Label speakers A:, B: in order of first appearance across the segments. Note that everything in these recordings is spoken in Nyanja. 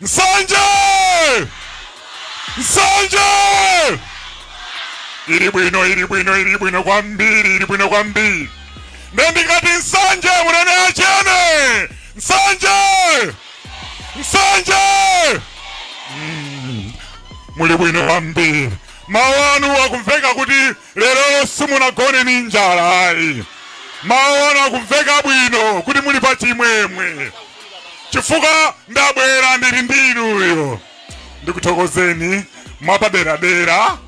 A: nsanje nsanje ili bwino ili bwino ili bwino kwambiri ili bwino kwambiri nde ndikati nsanje munene achene nsanje nsanje Mm. muli bwino kwambiri mawu anu akumveka kuti Lero simunagone ni njala ayi, mawu anu akumveka bwino kuti muli pa chimwemwe chifukwa ndabwera ndili ndi inuyo. Ndikuthokozeni mwapaderadera,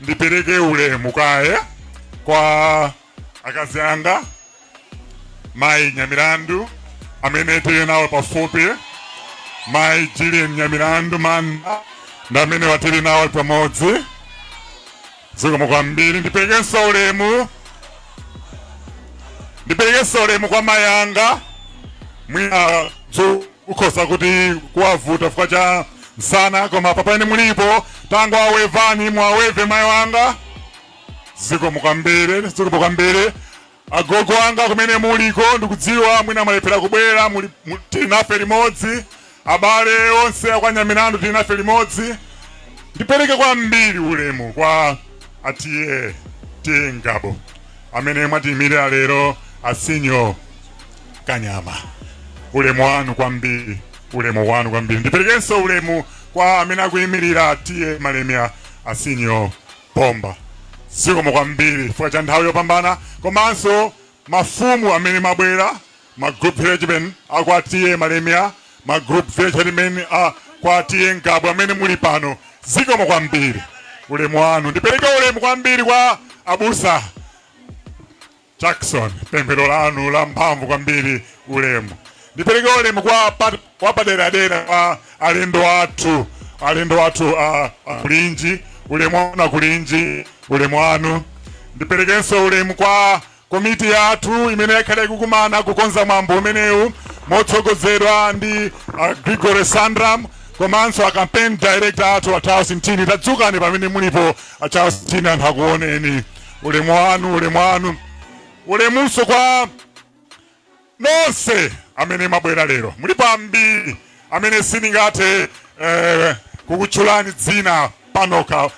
A: ndipereke ulemu kaye kwa akazi anga mayi nyamilandu amene tili nawo pafupi mayi jilin nyamilandu manda ndi amene watili nawo pamodzi zikomo kwambiri ndiperekenso ulemu ndiperekenso ulemu kwa mayi anga mwina kukhoza kuti kuwavuta chifukwa cha msana koma pamene mulipo tangowevani mwaweve mayi anga zikomo kwambiri zikomo kwambiri Agogo anga kumene muliko ndikudziwa mwina mwalephera kubwera, muli mu- tili nafe limodzi. Abale onse akwa Nyamilandu tili nafe limodzi. Ndipereke kwambiri ulemu kwa a TA TA Ngabu amene mwatiyimirira lero asinyo Kanyama. Ulemu wanu kwambiri, ulemu wanu kwambiri. Ndiperekenso ulemu kwa amene akuyimirira a TA Malemia asinyo Bomba. Zikomo kwambiri chifukwa cha nthawi yopambana komanso mafumu amene mwabwera, ma group headmen a kwa TA Malemia, ma group village headmen a kwa TA Ngabu amene muli pano. Zikomo kwambiri. Ulemu wanu. Ndipereke ulemu kwambiri kwa abusa. Jackson, pemphero lanu la mphamvu kwambiri ulemu. Ndipereke ulemu wa pa- wapaderadera kwa alendo athu alendo athu a a kulinji ulemu wanu akulinji ulemu wanu. Ndiperekenso ulemu kwa komiti yathu imene yakhala ikukumana kukonza mwambo umenewu motsogozedwa ndi a Gregory Sandram komanso a campaign director athu a Charles Mtini. Tadzukani pamene mulipo a Charles Mtini anthu akuoneni. ulemu wanu ulemu wanu ulemunso kwa nonse amene mabwera lero mulipo ambiri amene sindingathe eh, kukutchulani dzina panoka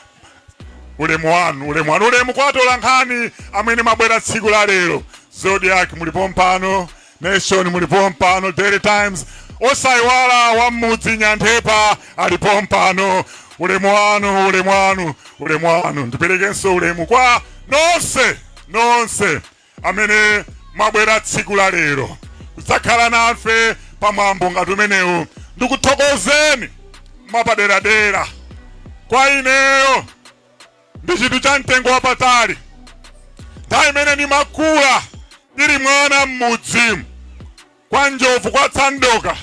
A: ulemu wanu ulemu wanu ulemu kwa atolankhani amene mabwera tsiku la lero zodiak muli pompano nation muli pompano daily times osayiwala wa mmudzi nyanthepa muli pompano ulemu wanu ulemu wanu ulemu wanu ndiperekenso ulemu kwa nonse nonse amene mwabwera tsiku la lero kudzakhala nafe pamwambo ngati umenewu ndikuthokozeni mwapaderadera kwa ineyo ndi chinthu cha mtengo wapatali nthawi imene ndimakula ndili mwana m'mudzi kwa njovu kwa tsandoka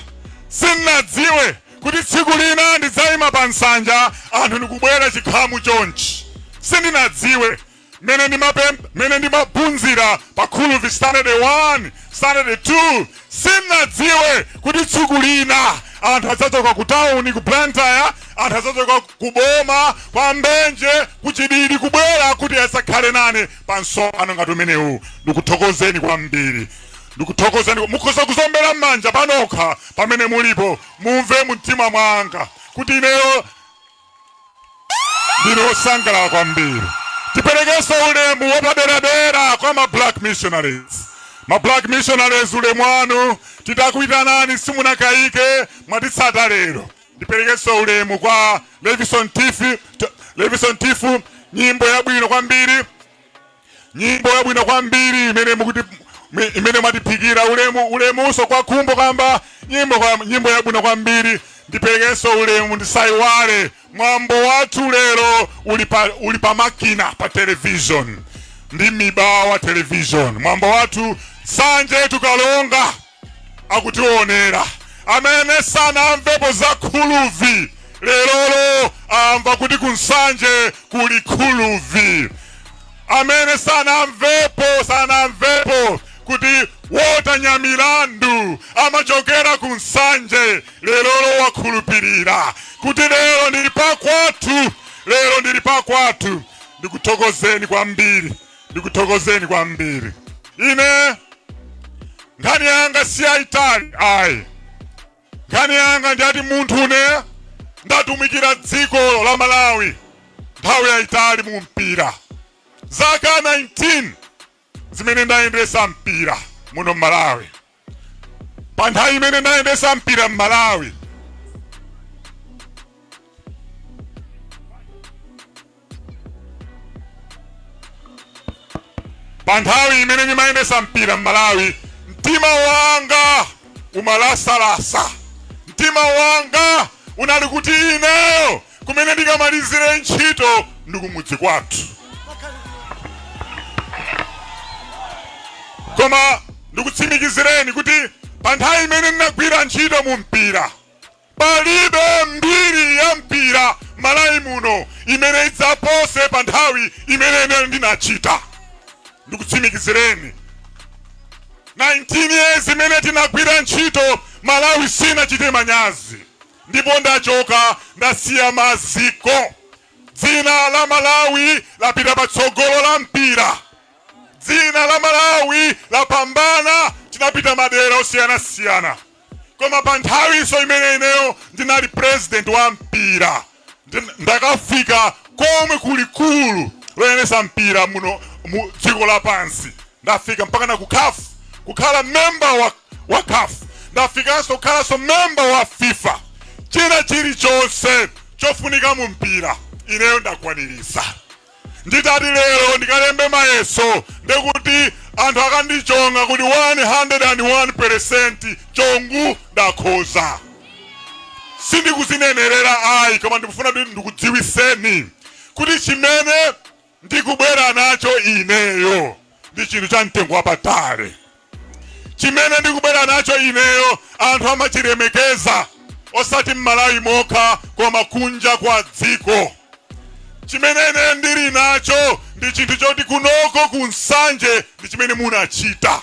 A: sindinadziwe kuti tsiku lina ndidzayima pa nsanja anthu ndikubwera chikhamu chonchi sindinadziwe mene ndimapem- mene ndimaphunzira pa khuluvi standard 1 standard 2 sindinadziwe kuti tsiku lina anthu adzachoka ku tawuni ku blantyre anthu adzachoka ku- ku boma kwa mbenje ku chididi kubwera kuti azakhale nane pa msonkhano ngati umenewu ndikuthokozeni kwambiri ndikuthokozeni mukhoza kudziombera m'manja panokha pamene mulipo mumve mumtima mwanga kuti ineyo ndine osangalala kwambiri tiperekenso ulemu wapaderadera kwa ma black missionaries ma black missionaries ulemu wanu titakuitanani simunakayike mwatitsata lero Ndiperekenso ulemu kwa Levison Tifu, T- Levison Tifu, nyimbo yabwino kwambiri, nyimbo yabwino kwambiri imene mukuti mi- imene mwatiphikira ulemu ulemunso kwa khumbo kamba nyimbo kwa nyimbo yabwino kwambiri ndiperekenso ulemu ndisaiwale mwambo wathu lero uli pa uli pa makina pa television ndi mibawa television mwambo wathu nsanje tu karonga akutionera amene sanamvepo za khuluvi lerolo amva kuti kunsanje kuli khuluvi amene sanamvepo sanamvepo kuti walter nyamilandu amachokera ku nsanje lerolo akhulupirira kuti lero ndili pakwathu lero ndili pakwathu ndikuthokozeni kwambiri ndikuthokozeni kwambiri ine nkhani yanga si yayitali ayi nkhani yanga ndiyati munthu une ndatumikira dziko la malawi nthawi yayitali mu mpira zaka 19 zimene ndayendesa mpira muno m'malawi pa nthawi imene ndayendesa mpira m'malawi pa nthawi imene ndimayendesa mpira m'malawi mtima wanga umalakalaka mtima wanga unali kuti ineyo kumene ndikamalizire ntchito ndi kumudzi kwathu koma ndikutsimikizireni kuti pa nthawi imene ndinagwira ntchito mu mpira palibe mbiri ya mpira malawi muno imene idzapose pa nthawi imene ine ndinachita ndikutsimikizireni 19 years imene tinagwira ntchito malawi sinachite manyazi ndipo ndachoka ndasiya maziko dzina la malawi lapita patsogolo la mpira dzina la malawi lapambana tinapita madera osiyanasiyana koma pa nthawinso imene ineyo ndinali president wa mpira Nd- ndakafika komwe kulikulu loyendesa mpira muno mu dziko lapansi ndafika mpaka na ku caf kukhala memba wa, wa caf ndafikanso kukhalanso memba wa fifa china chilichonse chofunika mu mpira ineyo ndakwanirisa nditati lero ndikalembe mayeso ndekuti anthu akandichonga kuti 101% chongu ndakhoza sindikuzinenerera ayi koma ndikufuna kuti ndikudziwiseni kuti chimene ndikubwera nacho ineyo ndi chinthu cha mtengo wapatali chimene ndikubwera nacho ineyo anthu amachilemekeza osati m'malawi mokha koma kunja kwa dziko chimene ine ndili nacho ndi chinthu choti kunoko ku nsanje ndi chimene munachita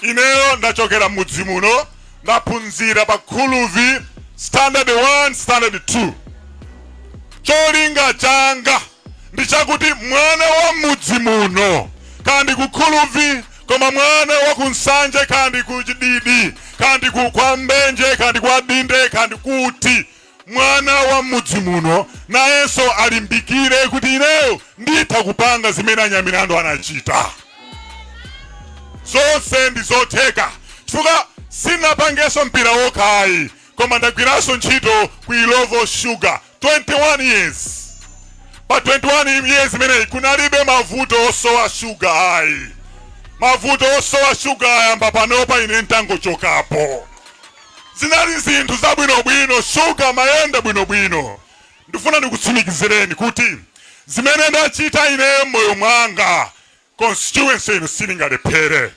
A: ineyo ndachokera m'mudzi muno ndaphunzira pa khuluvi standard 1 standard 2 cholinga changa ndi chakuti mwana wa m'mudzi muno kaya ndi ku khuluvi koma mwana wa ku nsanje kaya ndi ku chididi kaya ndi ku kwa mbenje kaya ndi kwa dinde kaya ndi kuti mwana wa m'mudzi muno nayenso alimbikire kuti ineyo nditha kupanga zimene anyamilandu anachita zonse ndi zotheka chifukwa sinapangenso mpira wokhayi koma ndagwiranso ntchito ku illovo sugar 21 years pa 21 years imeneyi kunalibe mavuto osowa shuga ayi mavuto osowa shuga ayamba panopa ine ntangochokapo zinali zinthu zabwinobwino shuga mayenda bwinobwino ndifuna ndikutsimikizireni kuti zimene ndachita ine m'moyo mwanga constituency ino silingalephere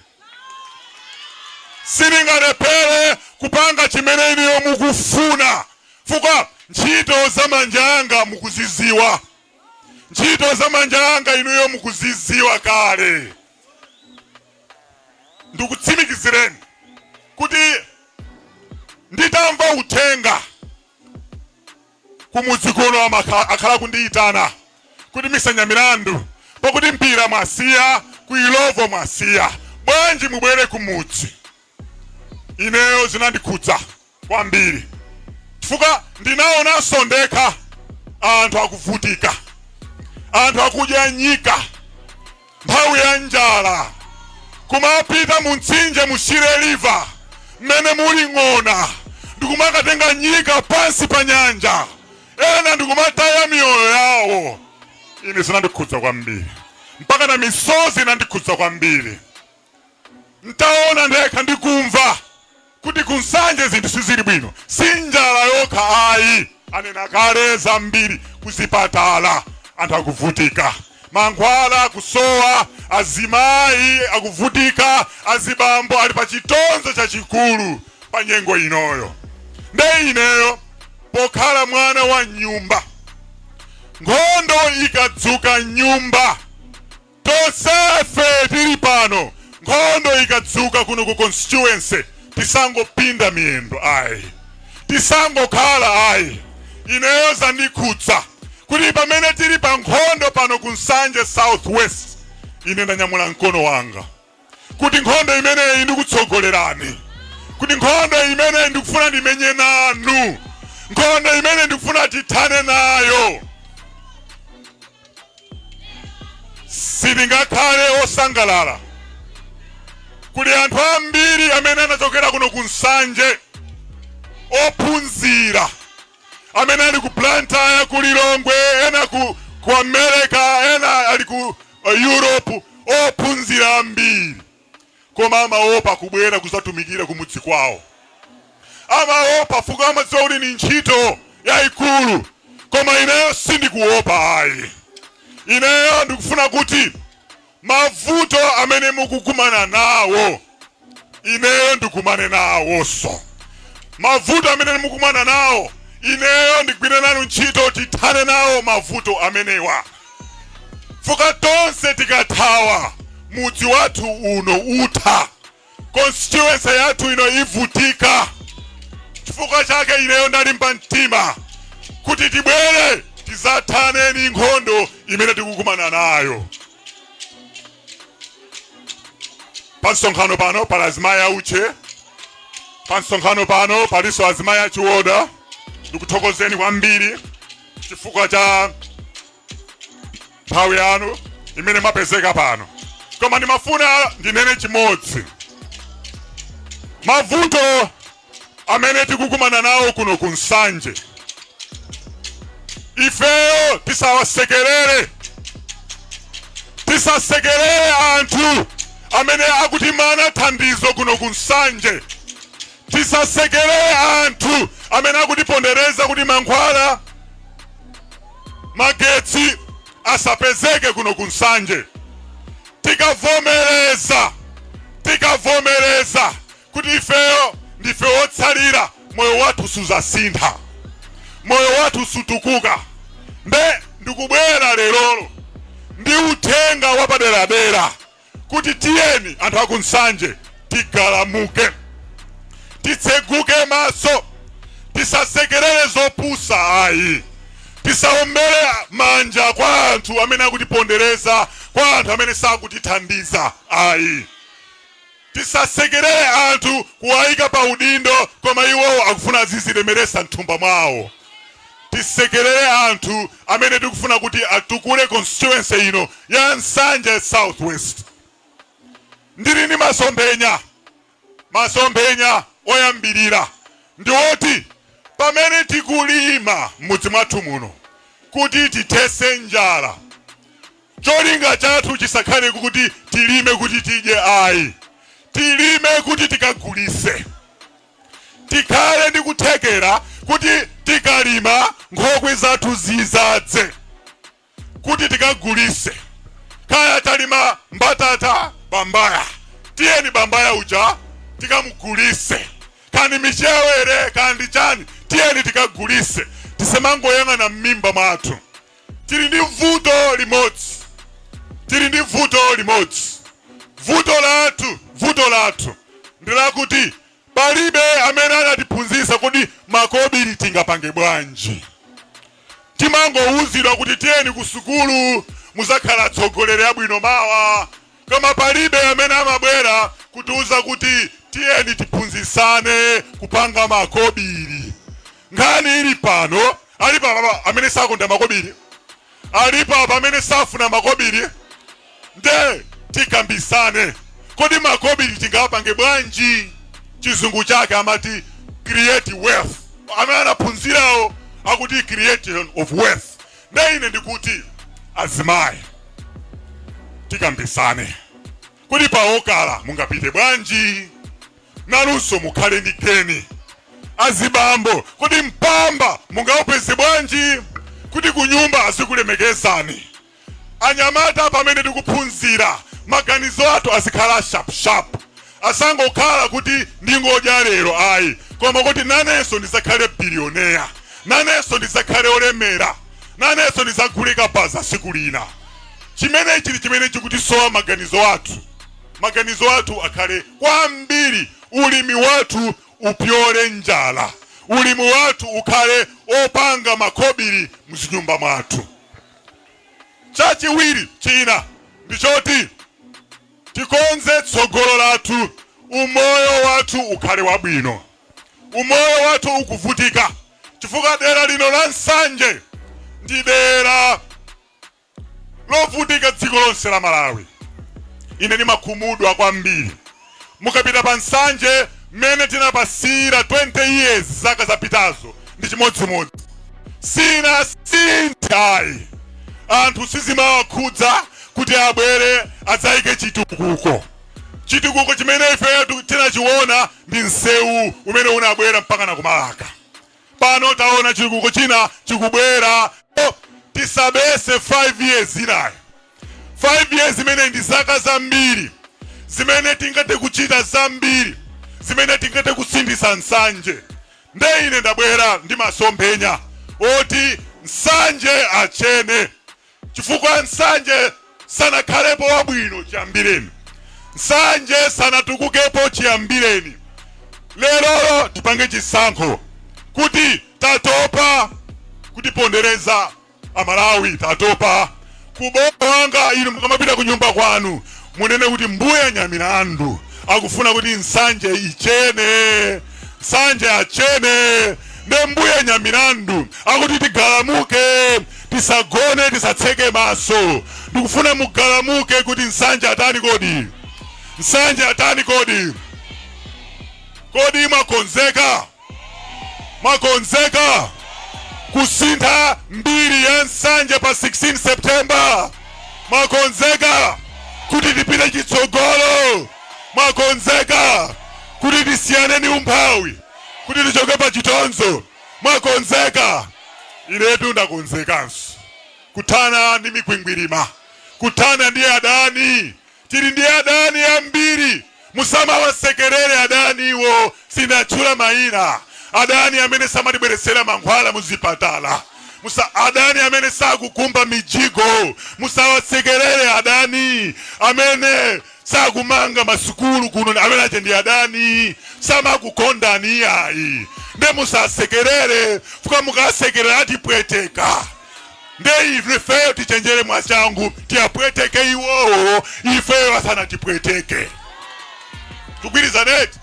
A: silingalephere kupanga chimene inuyo mukufuna fukwa ntchito za manja anga mukuziziwa ntchito za manja anga inuyo mukuziziwa kale ndikutsimikizireni kuti nditamva uthenga kumudzi kuno akhala akundiyitana kuti Mister Nyamilandu pakuti mpira mwasiya ku ilovo mwasiya bwanji mubwere kumudzi ineyo zinandikhudza kwambiri chifukwa ndinaonanso ndekha anthu akuvutika anthu akudya nyika nthawi ya njala kumapita mu mtsinje mu shire river mmene muli ng'ona ndikumakatenga nyika pansi pa nyanja ena ndikumataya miyoyo yawo ine zinandikhudza kwambiri mpaka na misozi inandikhudza kwambiri Ntaona ndekha ndi kumva kuti ku Nsanje zinthu sizili bwino, si njala yokha ayi, anena kale zambiri. Kuzipatala anthu akuvutika, mankhwala kusowa, azimayi akuvutika, azibambo ali pa chitonzo chachikulu pa nyengo inoyo. Nde ineyo pokhala mwana wa m'nyumba, nkhondo ikadzuka m'nyumba Tonsefe tili pano nkhondo ikadzuka kuno ku constituency tisangopinda miyendo ayi, tisangokhala ayi. Ineyo zandikhudza kuti pamene tili pa nkhondo pano ku Nsanje South West, ine ndanyamula mkono wanga. kuti nkhondo imeneyi ndikutsogolerani kuti nkhondo imeneyi ndikufuna ndimenye nanu nkhondo imeneyi ndikufuna tithane nayo sitingakhale osangalala kuli anthu ambiri amene anachokera kuno ku nsanje ophunzira amene ali ku Blantyre, ku Lilongwe, ena ku America, ena ali ku Europe, ophunzira ambiri koma amaopa kubwera kuzatumikira kumudzi kwawo, amaopa fuka amadziwa kuti ni ntchito yayikulu, koma ineyo sindikuopa ayi. Ineyo ndikufuna kuti Mavuto amene mukukumana nawo ineyo ndikumane nawonso. Mavuto amene mukumana nawo ineyo ndigwire nanu ntchito tithane nawo mavuto amenewa. Fuka tonse tikathawa mudzi wathu uno utha. constituency yathu ino ivutika chifukwa chake ineyo ndalimba mtima kuti tibwere tizathane ni nkhondo imene tikukumana nayo pa msonkhano pano pali azimayi auche pa msonkhano pano palinso azimayi achiwoda ndikuthokozeni kwambiri chifukwa cha nthawi yanu imene mwapezeka pano koma ndimafuna ndinene chimodzi mavuto amene tikukumana nawo kuno ku nsanje ifeyo tisawasekerere tisasekerere anthu amene akutimana thandizo kuno ku nsanje Tisasekerere anthu amene akutipondereza kuti mankhwala, magetsi asapezeke kuno ku Nsanje. Tikavomereza, tikavomereza kuti ifeyo ndife wotsalira, moyo wathu suzasintha, moyo wathu sutukuka. Nde ndikubwera lerolo ndi uthenga wapaderadera kuti tiyeni anthu aku Nsanje tigalamuke, titseguke maso, tisasekerere zopusa ayi, tisaombere manja kwa anthu amene akutipondereza, kwa anthu amene sakutithandiza ayi, tisasekerere anthu kuwayika pa udindo koma iwowo akufuna azizilemeresa m'thumba mwawo. tisekelere anthu amene tikufuna kuti atukule constituency ino ya Nsanje South West. Ndili ni masomphenya, masomphenya oyambirira ndi oti pamene tikulima m'mudzi mwathu muno kuti tithese njala, cholinga chathu chisakhale kuti tilime kuti tidye ayi, tilime kuti tikagulise. tikhale ndi kuthekera kuti tikalima nkhokwe zathu zizadze kuti tikagulise kaya talima mbatata bambaya tiyeni bambaya uja tikamugulise kandi michewere kandi chani tiyeni tikagulise tisemangoyang'ana m'mimba mwathu tili ndi vuto limodzi tili ndi vuto limodzi vuto lathu vuto lathu ndi lakuti palibe amene anatiphunzitsa kuti makobiri tingapange bwanji timangowuzidwa kuti tiyeni ku sukulu muzakhala atsogoleri abwino mawa Koma palibe amene amabwera kutiuza kuti tiyeni tiphunzitsane kupanga makobiri. Nkhani ili pano, alipo apa amene sakonda makobiri? Alipo apa amene safuna makobiri? Nde tikambisane, kodi makobiri tingawapange bwanji? Chizungu chake amati create wealth. Amene anaphunzirawo akuti creation of wealth. nde ine ndikuti azimayi tikambisane kuti paokala mungapite bwanji nanunso mukhale ndi geni azibambo kodi mpamba mungaupeze bwanji kuti kunyumba azikulemekezani anyamata pamene tikuphunzira maganizo athu azikhala shapshap Asangokhala kuti ndingodya lero ayi, koma kuti nanenso ndidzakhale billionaire, nanenso ndidzakhale olemera, nanenso ndidzagule kabaza tsiku lina. Chimene chili chimene chikutisowa maganizo athu. Maganizo athu akhale kwambiri ulimi wathu upyole njala, ulimi wathu ukhale opanga makobili muzinyumba mwathu. Chachiwiri china ndi choti. Tikonze tsogolo lathu umoyo wathu ukhale wabwino. Umoyo wathu ukuvutika chifukwa dera lino la Nsanje ndi dera lovutika dziko lonse la Malawi. Ine ndimakhumudwa kwambiri mukapita pa Nsanje mmene tinapasiyira 20 years zaka zapitazo ndi chimodzimodzi sinasinthe ayi anthu sizimawakhudza kuti abwere adzaike chitukuko chitukuko chimene ifeyo tiku- tinachiona ndi msewu umene unabwera mpaka na ku Marka pano taona chitukuko china chikubwera tisabetse 5 years inayo 5 years zimene ndi zaka zambiri zimene tingathe kuchita zambiri zimene tingathe kusinthitsa Nsanje nde ine ndabwera ndi masomphenya oti Nsanje achene chifukwa Nsanje sanakhalepo wabwino chiyambireni. Nsanje sanatukukepo chiyambireni. Lerolo tipange chisankho kuti tatopa kutipondereza Amalawi, tatopa kubowanga. Inu mukamapita ku nyumba kwanu munene kuti mbuya Nyamilandu akufuna kuti Nsanje ichene, Nsanje achene, nde mbuya Nyamilandu akuti tigalamuke. tisagone tisatseke maso ndikufuna mugalamuke kuti Nsanje atani kodi Nsanje atani kodi kodi mwakonzeka mwakonzeka kusintha mbiri ya Nsanje pa 16 September mwakonzeka kuti tipite chitsogolo mwakonzeka kuti tisiyane ni umphawi kuti tichoke pa chitonzo Mwakonzeka? Inetu ndakonzekanso kuthana ndi mikwingwirima, kuthana ndi adani. Tili ndi adani ambiri. Musamawasekerere adaniwo. Sinatchula mayina. Adani amene samatibweretsera mankhwala muzipatala, adani amene sakukumba mijigo. Musawasekerere adani amene sakumanga masukulu kuno amene aja ndi adani samakukondani iyayi nde musasekerere fuka mukasekerera atipweteka nde ife ifeyo tichenjere mwachangu tiyapweteke iwowo ifeyo asanatipweteke tugwirizana eti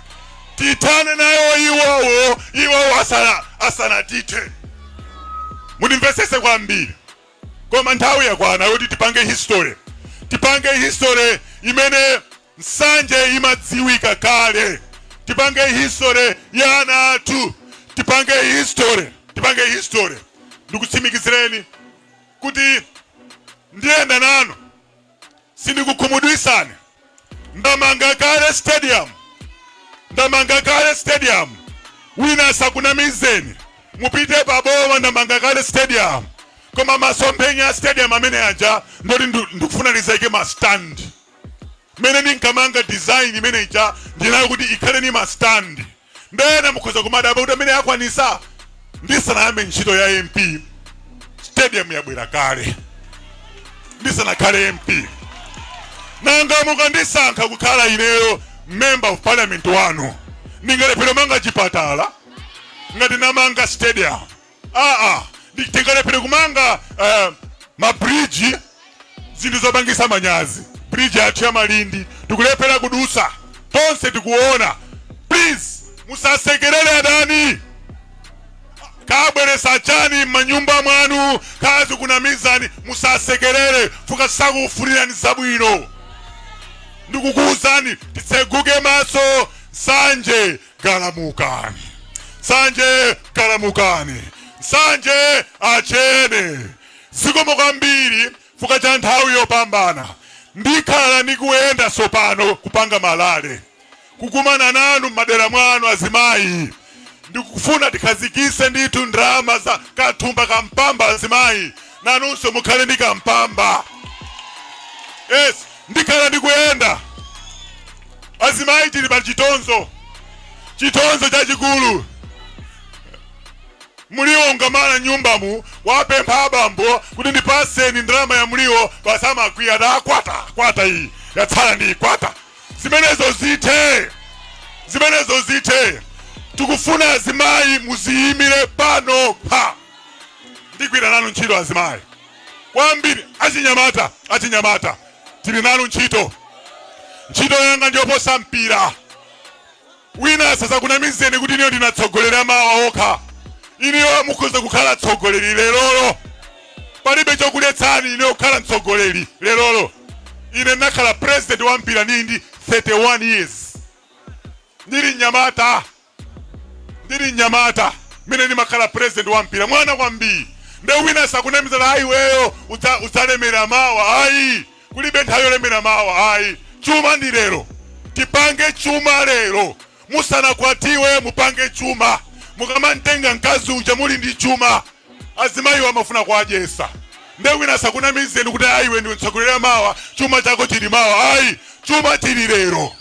A: tithane nayo iwowo iwowo asana asanatithe mundimvesese kwambiri Koma nthawi yakwana yoti tipange history. Tipange history imene Nsanje imadziwika kale. Tipange history ya ana athu. Tipange history, tipange history. Ndikutsimikizireni kuti ndiyenda nanu. sindikukhumudwisani ndamanga kale stadium ndamanga kale stadium wina asakunamizeni mupite pa boma ndamanga kale stadium koma masomphenya a stadium amene aja ndoti ndu- ndikufuna nizaike ma stand mene ndinkamanga design imene ija ndinayo kuti ikhale ni ma stand Nde ena mukhoza kumadabwa kuti ameneyu akwanisa ndisanayambe ntchito ya MP stadium yabwera kale ndisanakhale MP nanga mukandisankha kukhala ineyo member of parliament wanu ndingalephere kumanga chipatala ngati namanga stadium aa ndi- tingalephere kumanga eh, mabridge zinthu zopangisa manyazi bridge yathu ya malindi tikulephera kudusa tonse tikuona please musasekerere adani kabweresa chani m'manyumba mwanu kazikunamizani musasekerere fuka sakufunirani zabwino ndikukuwuzani titseguke maso Nsanje galamukani Nsanje galamukani Nsanje achene zikomo kwambiri fuka cha nthawi yopambana ndikhala ndikuyenda sopano kupanga ma rally kukumana nanu m'madera mwanu azimayi ndikufuna tikhazikise ndithu ndalama za kathumba ka mpamba azimayi nanunso mukhale ndi kampamba yes ndikhala ndikuyenda Azimayi tili pa chitonzo, chitonzo chachikulu. Muliwo ungamala nyumbamu wapempha abambo kuti ndipaseni ndalama ya muliwo, basi amakwiya ati akwata kwata iyi yatsala ndi ikwata. Zimenezo zithe, zimenezo zithe. Tikufuna azimayi muziyimire panokha ndigwira nanu ntchito azimayi kwambiri achinyamata achinyamata tili nanu ntchito ntchito yanga ndiyoposa mpira wina asazakunamizeni kuti inuyo ndi atsogoleri a mawa okha inuyo mukhoza kukhala atsogoleri lerolo palibe chokuletsani inuyo kukhala mtsogoleri lerolo ine ndinakhala president wa mpira ndili ndi 31 years ndili mnyamata ndili mnyamata mene ndimakhala president wa mpira mwana kwambiri nde wina asakunamize ayi iweyo udza- udzalemera mawa ayi kulibe nthawi yolemera mawa ayi chuma ndi lero tipange chuma lero musanakwatiwe mupange chuma mukamantenga mkazi uja muli ndi chuma azimayiwo amafuna kuwadyesa nde wina asakunamizeni kuti ayi iwe ndiwe mtsogoleri wa mawa chuma chako chili mawa ayi chuma chili lero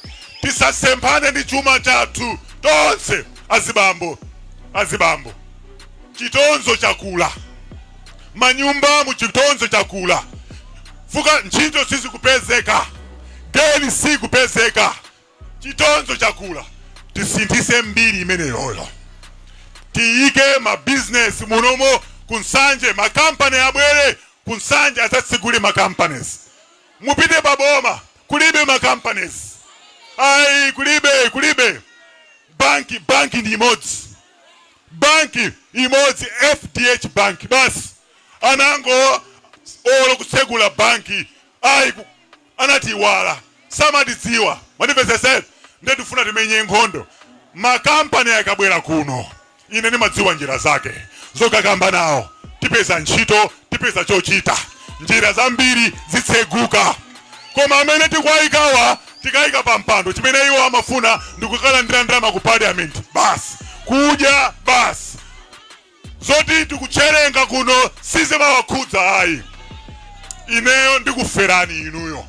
A: tisasemphane ndi chuma chathu tonse azibambo azibambo chitonzo chakula manyumba mu chitonzo chakula fuka ntchito sizikupezeka geni sikupezeka chitonzo chakula tisinthise mbiri imeneyoyo tiyike mabizinesi munomo kunsanje makampani abwere kunsanje adzatsegule makampanies mupite paboma kulibe makampanies ayi kulibe kulibe banki banki ndi imodzi banki imodzi fdh banki basi anakana olo kutsegula banki ayi ku- anatiiwala samatidziwa mwandimvesesa eti nde tifuna timenye nkhondo ma company akabwera kuno ine ndimadziwa njira zake zokakamba nawo tipeza ntchito tipeza chochita njira zambiri zitseguka koma amene tikuwayikawa tikayika pa mpando chimene iwo amafuna ndikukalandira ndalama ku parliament basi kudya basi zoti tikucherenga kuno sizimawakhudza ayi ineyo ndikuferani inuyo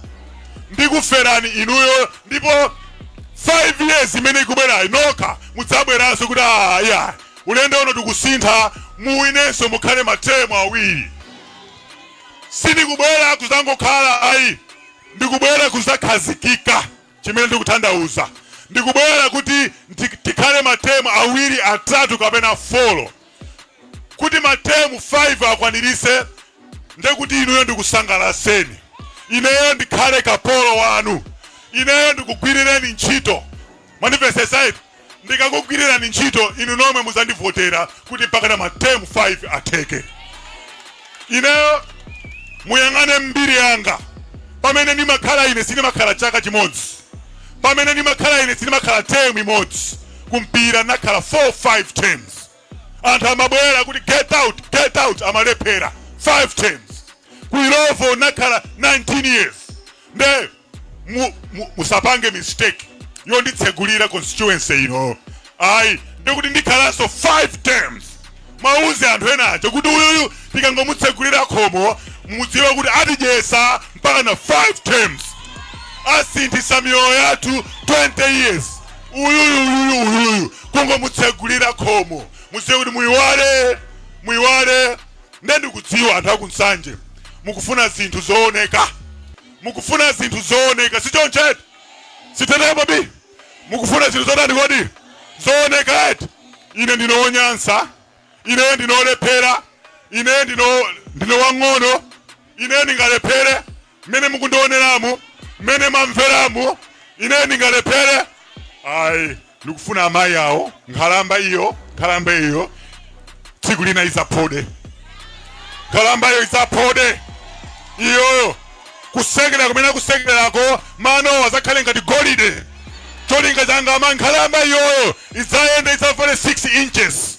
A: ndikuferani inuyo ndipo 5 years imene ikubwerayi nokha mudzabweranso kuti aya ulendo uno tikusintha muwinenso mukhale matemu awiri sindikubwera kuzangokhala ayi ndikubwera kuzakhazikika Chimene ndikutanthauza ndikubwera kuti tikhale ma term awiri, atatu kapena folo kuti ma term 5 akwanirise ndekuti inuyo ndikusangalaseni ineyo ndikhale kapolo wanu ineyo ndikugwirireni ntchito mwandimvesesa eti. Ndikakugwirirani ntchito inu nomwe mudzandivotera kuti mpakana ma term 5 atheke. Ineyo muyang'ane mbiri yanga pamene ndimakhala ine sindimakhala chaka chimodzi pamene ndimakhala ine sindimakhala term imodzi kumpira nakhala 4 5 terms anthu amabwera kuti get out get out amalephera 5 terms ku ilovo nakhala 19 years nde mu- mu- musapange mistake yonditsegulira constituency ino ayi ndikuti ndikhalanso 5 terms mwauze anthu ena aja kuti uyuyu tikangomutsegulira khomo mudziwe kuti atidyesa mpaka na 5 terms asinthisa miyoyo yathu 20 years uyuyu uyuyu uyuyu kungomutsegulira khomo mudziwe kuti muyiwale muyiwale nde ndikudziwa anthu akunsanje mukufuna zinthu zooneka mukufuna zinthu zooneka sichoncho eti sitete babi mukufuna zinthu zotani kodi zooneka eti ine ndine wonyansa ine ndine wolephera ine ndine ndine wang'ono ine ndingalephere mmene mukundioneramu mmene mwamveramu ine ndingalephere ayi ndikufuna amayi awo nkhalamba iyo nkhalamba iyo tsiku lina izaphode nkhalamba iyo izaphode iyoyo kusekera kumene kusekerako mano azakhale ngati golide cholinga changa ama nkhalamba iyoyo idzayende idzavale 6 inches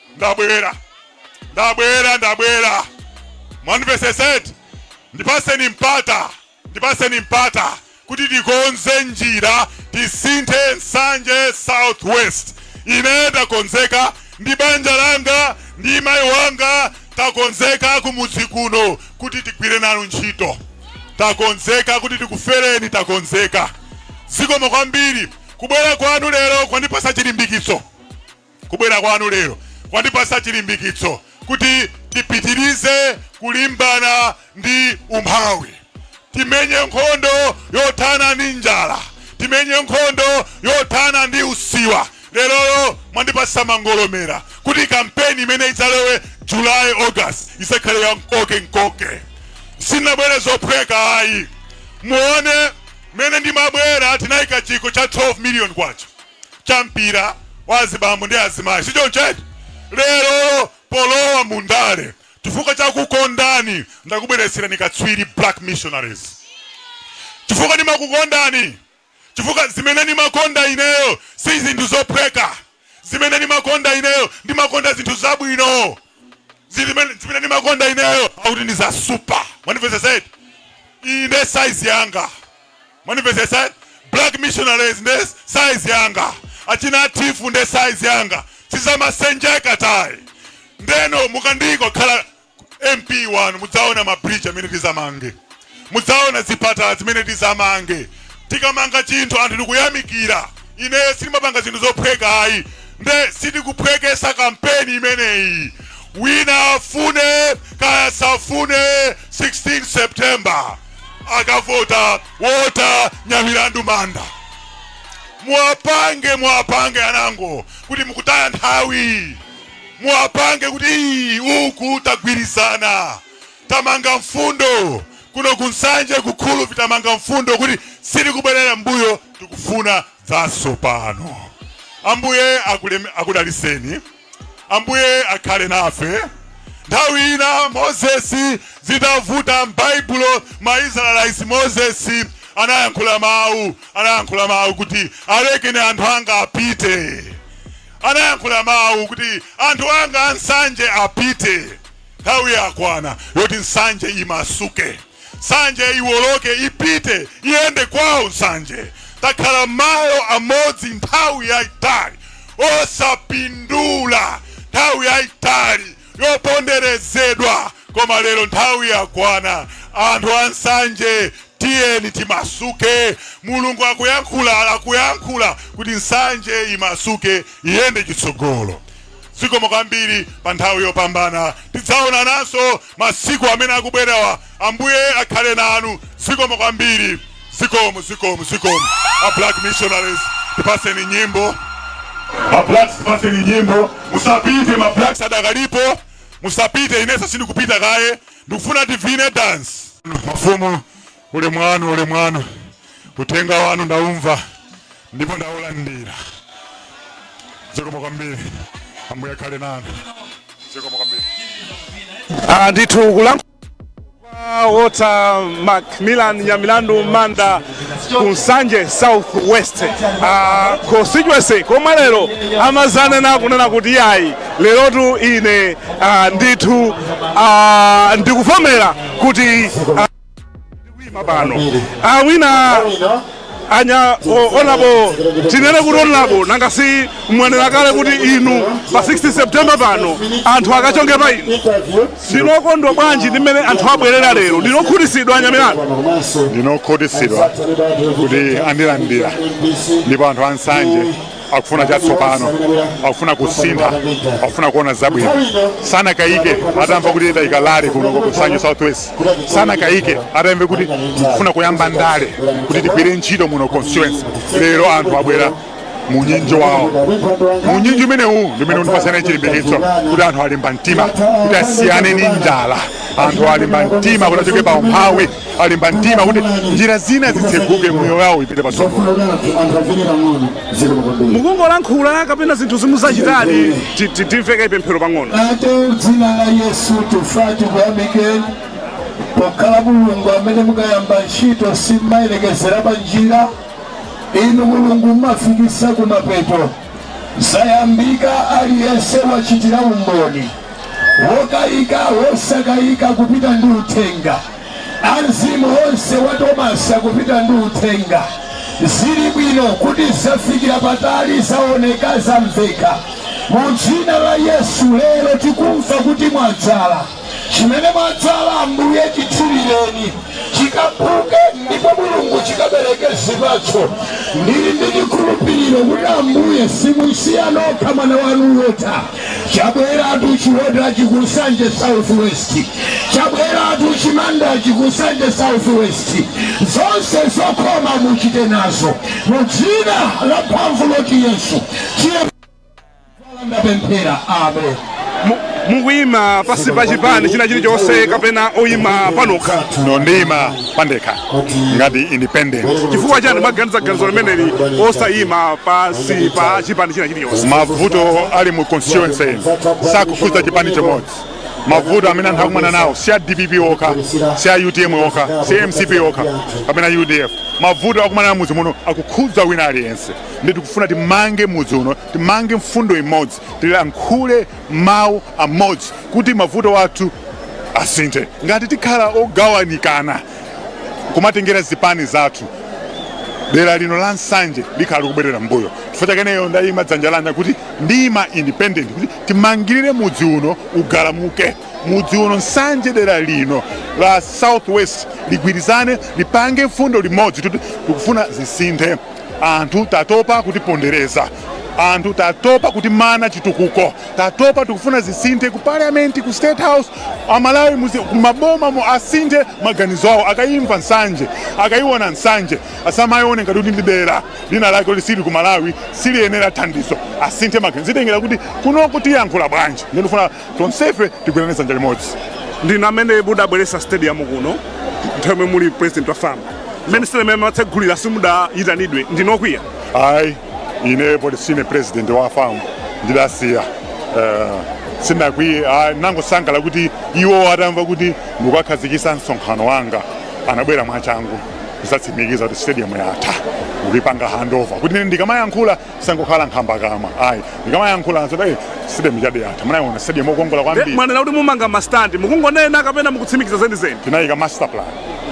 A: ndabwera ndabwera ndabwera mwandimvetsetsa eti ndipaseni mpata ndipaseni mpata kuti tikonze njira tisinthe nsanje southwest ine ndakonzeka ndi banja langa ndi mayi wanga takonzeka kumudzi kuno kuti tigwire nanu ntchito takonzeka kuti tikufereni takonzeka zikomo kwambiri kubwera kwanu lero kwandipasa chilimbikitso Kubwera kwanu lero kwandipasa chilimbikitso kuti tipitirize kulimbana ndi umphawi, timenye nkhondo yothana ndi njala, timenye nkhondo yothana ndi usiwa. Lerolo mwandipasa mangolomera kuti kampeni imene idzalowe July, August izakhale ya mkoke mkoke. Sinabwere zophweka ayi, muone mmene ndimabwera tinayika chikho cha 12 million kwacha cha mpira wa azibambo ndi azimayi sichoncho eti lero polowa mundale chifukwa chakukondani ndakubweretserani akatswiri black missionaries chifukwa ndimakukondani chifukwa zimene ndimakonda ineyo si zinthu zophweka zimene ndimakonda ineyo ndimakonda zinthu zabwino zimene zimene ndimakonda ineyo akuti ndi za super mwandimvetsetsa eti iyi nde size yanga mwandimvetsetsa eti black missionaries nde size yanga achina atifu nde size yanga sizamasenjeka tayi ndeno mukandiyika kukhala mp wanu mudzaona mabridge amene tizamange mudzaona zipatala zimene tizamange. Tikamanga chinthu anthu nikuyamikira. Ine sindimapanga zinthu zophweka ayi nde sitikuphwekesa kampeni imeneyi. Wina afune kaya asafune 16 September akavota Walter Nyamilandu Manda. Muwapange, muwapange anango kuti mukutaya nthawi. Muwapange kuti ii uku tagwirizana. tamanga mfundo kuno ku Nsanje ku Khulubvi tamanga mfundo kuti sitikubwerera mbuyo tikufuna zatsopano ambuye akulem- akudaliseni ambuye akhale nafe nthawi ina mozesi zitavuta m'baibulo ma israelite mozesi anayankhula mawu anayankhula mawu kuti alekeni anthu anga apite anayankhula mawu kuti anthu anga ansanje apite Nthawi yakwana yoti nsanje imasuke. Nsanje iwoloke ipite iyende kwawo nsanje. Takhala malo amodzi nthawi yaitali osapindula nthawi yaitali yoponderezedwa koma lero nthawi yakwana anthu ansanje tiyeni timasuke mulungu akuyankhula akuyankhula kuti nsanje imasuke iyende chitsogolo zikomo kwambiri pa nthawi yopambana tidzaonananso masiku amene akubwerawa ambuye akhale nanu zikomo kwambiri zikomo zikomo zikomo a black missionaries tipaseni nyimbo ma blacks tipaseni nyimbo musapite ma blacks adakalipo musapite inenso sindikupita kaye ndikufuna tivine dance mafumu Ulemu wanu, ulemu wanu, uthenga wanu ndaumva ndipo ndaulandira. Zikomo kwambiri, Ambuye akhale nanu. Zikomo kwambiri. Ah,
B: ndithu kulankhula kwa Walter Macmillan Nyamilandu Manda ku Nsanje South West ah, constituency komwe lero amazanena kunena kuti yayi lerotu ine ah, ndithu ah, ndikuvomera kuti ah, kuima pano awina a Nya- honourable tinene kuti honourable nanga si mwanena kale kuti inu pa 16 september pano anthu akachonge pa inu ndinokondwa bwanji ndi mmene anthu abwerera lero ndinokhutisidwa a Nyamilandu ndinokhutisidwa
A: kuti andilandira ndipo anthu ansanje akufuna chatsopano akufuna kusintha akufuna kuona zabwino sanakayike atamva kuti tayika rally kuno ku nsanje southwest sanakayike atamve kuti tikufuna kuyamba ndale kuti tigwire ntchito muno constituency lero anthu abwera munyinji wawo munyinji umenewu ndimene undipasa ine chilimbikitso kuti anthu alimba mtima kuti asiyane ni njala anthu alimba mtima kuti achoke pa umphawi alimba mtima kuti njira zina zitseguke moyo wawo ipite
B: patsogolo mukungolankhula kapena zinthu zimuzachitadi timveke ndi pemphero pang'ono atate mdzina
C: la yesu tifuna tikuyamike pokhala mulungu amene mukayamba ntchito simmalekezera pa njira inu mulungu mmafikisa kumapeto Zayambika aliyense wachitira umboni wokayika wosakayika kupita ndi uthenga amzimu onse wa Tomasi apita ndi uthenga zili bwino kuti zafikira patali zaoneka zamveka mu dzina la Yesu lero tikumva kuti mwadzala Chimene mwadzala, Ambuye, chithirireni chikaphuke, ndipo, Mulungu, chikabereke zipatso. Ndiri ndi chikhulupiriro kuti, Ambuye, simumusiya yekha mwana Wanu, Walter. Chabweratu chiwotachi ku Nsanje Southwest. Chabweratu chimandachi ku Nsanje Southwest. Zonse zokoma muchite nazo, mu dzina lamphamvu loti Yesu. Tiye. ndapemphera amen
B: mukuyima pasi pa chipani china chilichonse kapena oyima panokha no ndiyima
A: pandekha ngati independent chifukwa chani mwaganiza
B: ganizo limeneli osayima pasi pa chipani china chilichonse mavuto ali
A: mu constituency sakukhudza chipani chimodzi mavuto amene anthu akumana nawo si a dpp okha si a utm okha si a mcp okha kapena udf mavuto akumana nawo mudzi muno akukhudza wina aliyense ndi tikufuna timange mudzi uno timange mfundo imodzi tilankhule mawu amodzi kuti mavuto athu asinthe ngati tikhala ogawanikana kumatengera zipani zathu dera lino la nsanje likhala likubwerera mbuyo chifukwa chake ineyo ndayimika dzanja langa kuti ndiyima independent kuti timangirire mudzi uno ugalamuke mudzi uno nsanje dera lino la southwest ligwirizane lipange mfundo imodzi kuti tikufuna zisinthe anthu tatopa kutipondereza anthu tatopa kutimana chitukuko tatopa tikufuna zisinthe ku parliament ku state house amalawi muzi- ku mabomamu asinthe maganizo awo akayimva nsanje akayiwona nsanje asamayione ngati kuti ndi dera linalake loti sili ku malawi siliyenela thandizo asinthe maganizo zitengera kuti kunoko tiyankhula bwanji ndikufuna tonsefe tigwirane dzanja limodzi ndinu
B: amene mudabweretsa stadium kuno nthawi imene muli president wa fam mmene stadium imene amatsegulira simudayitanidwe ndinu okwiya ayi
A: ine poti sine president wa fam ndidasiya Eh, sinakwiye ayi ndangosangalala kuti iwo atamva kuti ndikukhazikisa msonkhano wanga anabwera mwachangu kuzatsimikiza kuti stadium yatha kuyipanga handover kuti ine ndikamayankhula sangokhala nkhamba kamwa ayi ndikamayankhula adzati ayi stadium ya de yatha mukayiona stadium okongola kwambiri mwanena kuti mumanga
B: mastandi mukungonena kapena mukutsimikiza zenizeni tinayika master plan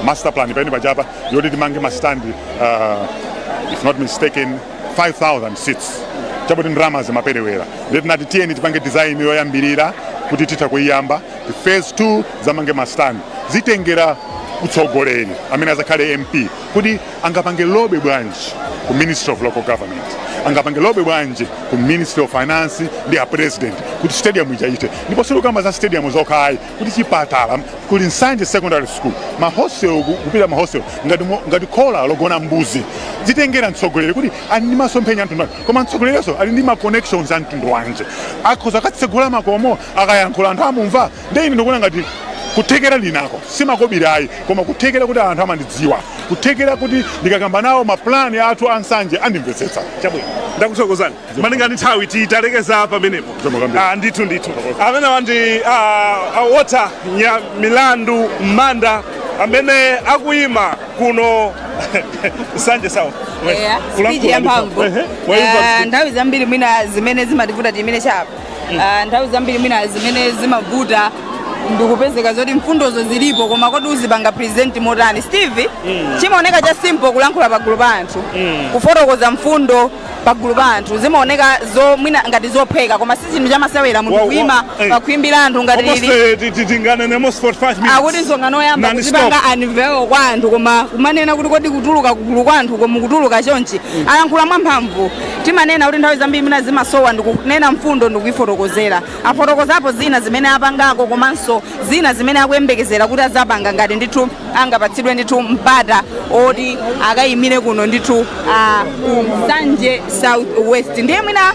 A: master plan pa ine pachapa yoti timange mastandi uh, if not mistaken 5000 seats chabe kuti ndalama zimaperewera ndiye tinati tiyeni tipange design yoyambirira kuti titha kuyiyamba phase 2 zamange mastandi zitengera utsogoleri amene azakhale mp kuti angapange lobe bwanji ku ministry of local government angapange lobe bwanji ku ministry of finance ndi a president kuti stadium ija ithe ndipo sindikukamba za stadium zokhayi kuli chipatala kuli nsanje secondary school mahostel ku- kupita mahostel ngati, mo- ngati khola logona mbuzi zitengera mtsogoleri kuti ali ndi masomphenya a mtundu wanji koma mtsogolerinso ali ndi ma connections a mtundu wanji akhoza akatsegule makomo akayankhula anthu amumva nde ine ndikuona ngati kuthekera ndinako si makobiri ayi koma kuthekera kuti anthu amandidziwa kuthekera kuti ndikakamba nawo mapulani athu a nsanje andimvetsetsa chabwino
B: ndakuthokozani malinga ndi nthawi tilekeza pamenepo Zikomo kwambiri. Ah, ndithu ndithu amenewa ndi ah, ah, Walter Nyamilandu manda amene akuyima kuno nsanje south Yeah, speech
D: yamphamvu. Ehe, waimva Eh, nthawi zambiri mwina zimene zimativuta timene chapa Ah, nthawi zambiri mwina zimene zimavuta ndikupezeka zoti mfundozo zilipo koma kodi uzipanga present motani steve chimaoneka cha simple kulankhula pagulu pa anthu kufotokoza mfundo pagulu pa anthu zimaoneka zo mwina ngati zophweka koma si chinthu chamasewera munthu Wa- wa- kuima eh. pakhwimbi la anthu ngati Almost, lili eh, ti- ti- tinganenemo 45 minutes. akuti msonkhano woyamba Non-stop. kuzipanga unveil kwa anthu koma kumanena kuti kodi kutuluka kugulu kwa anthu koma kutuluka chonchi alankhula mwamphamvu timanena kuti nthawi zambiri mwina zimasowa ndikunena mfundo ndikuifotokozera afotokozapo zina zimene apangako komanso zina zimene akuyembekezera kuti azapanga ngati ndithu angapatsidwe ndithu mpata oti akayimire kuno ndithu ah, ku nsanje south west ndiye mwina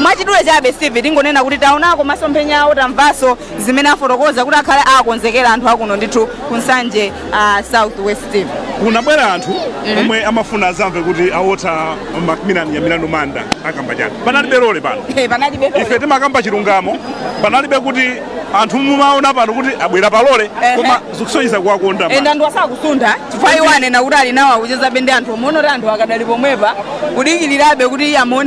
D: mwachidule chabe steve tingonena kuti taonako masomphenya awo tamvanso zimene afotokoza kuti akhala akonzekera anthu akuno ndithu ku nsanje uh, south west kunabwera
B: anthu omwe amafuna azamve kuti a Walter macmillan Nyamilandu manda akamba chani panalibe lole pano Eh, panalibe lole. ife
D: timakamba
B: chilungamo panalibe kuti anthu mumaona pano kuti abwera palole Ehe. koma zikusonyeza kuwakonda and anthu
D: sakusuntha chifukwa iwo anena kuti ali nawo akuchezabe ndi anthu mukuona oti anthu akadali pomwepa kudikirirabe kuti amuonebe